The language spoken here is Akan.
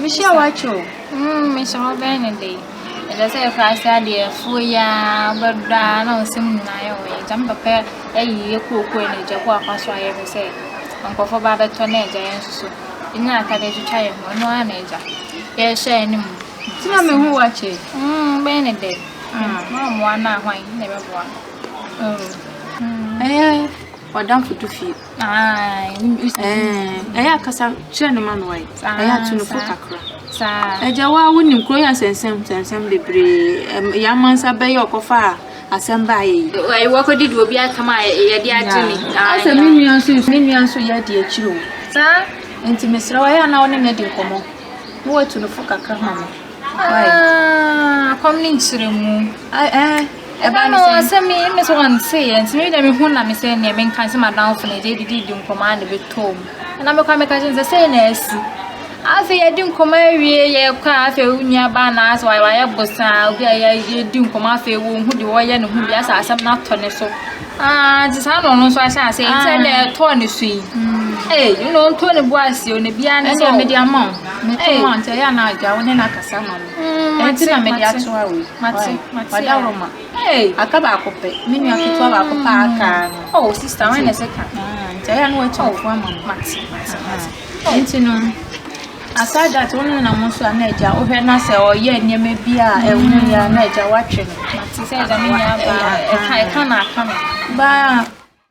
Mehyɛ watch o. Mm, mehyɛ wɔbɛn ne de. Ɛsɛ sɛ ɛfa ase adeɛ afuo yi ara bɛdɔ a na nsɛm nyinaa yɛ wɔn agya. Me papa ayi yɛ kuokuo na agya kɔ akwa so ayɛ me sɛ nkurɔfoɔ ba bɛtɔ na agya yɛn nso so. Ɛnya atadeɛ twitwa yɛn ho, ɛno ara na agya. Yɛhyɛ anim. Nti na mehu watch yi. Mm, bɛn ne de. Mm, na ɔmmoa no a hwan na ɛbɛboa no. Oh. Mm, ɛyɛ ɔdamfo tu fie. ɛyɛ akasa kyerɛ no ma no ayɛ ɛyɛ ato no fo kakra ɛgya wo a wonim kuro yɛ nsɛnsɛm nsɛnsɛm bebree yɛ amansa bɛyɛ ɔkɔfa a asɛm baa yɛ yi wakɔdi de obi atam a yɛde agye ne asɛ me nua nso me nua nso yɛ adi akyiri o saa nti mesrɛ wayɛ ana wo ne no adi nkɔmmɔ na watu no fo kakra ma me akɔm ne nkyerɛ mu Ɛbaa no saa sɛ me me sɛ wɔn se yɛn nti me deɛ me ho na me sɛ neɛ me nka sɛ madamfo na ɛgye didi di nkɔmɔ a na bɛtɔɔ mu ɛna mekɔ meka kyerɛ sɛ sɛ na asi afei yɛdi nkɔmɔ awie yɛkɔ a afei wo nua baa na asɛ wayɛ wayɛ bosaa obi a yɛdi nkɔmɔ afei wɔn ho de wɔyɛ ne ho bi asɛ asɛm no atɔ ne so aa nti saa na ɔno nso ahyɛ ase nti sɛ na ɛtɔɔ ne so yi ee ɛna ɔntɔ ne bo ase o na biara ne sɛ ɛdeɛ ama wo ɛdeɛ ama wo nti ɛyɛ anaa adwa wo ne no akasa ma no Enti na mede ato awe. Mate, mate a. Roma. Hey, aka baako pɛ. Me nua ketewa baako paa aka no. Oh, sister, when is it ka? Nti ɛyɛ no wɔakyɛ ɔfo ama no. Mate, mate, mate. Nti no, aside that, wo ne na mo nso a na agya wohwɛ na sɛ ɔyɛ nneɛma bi a ɛho yɛ a na agya woatwe no. Mate sɛ agya me nyɛ aba. Ɛka, ɛka na aka no. Baa.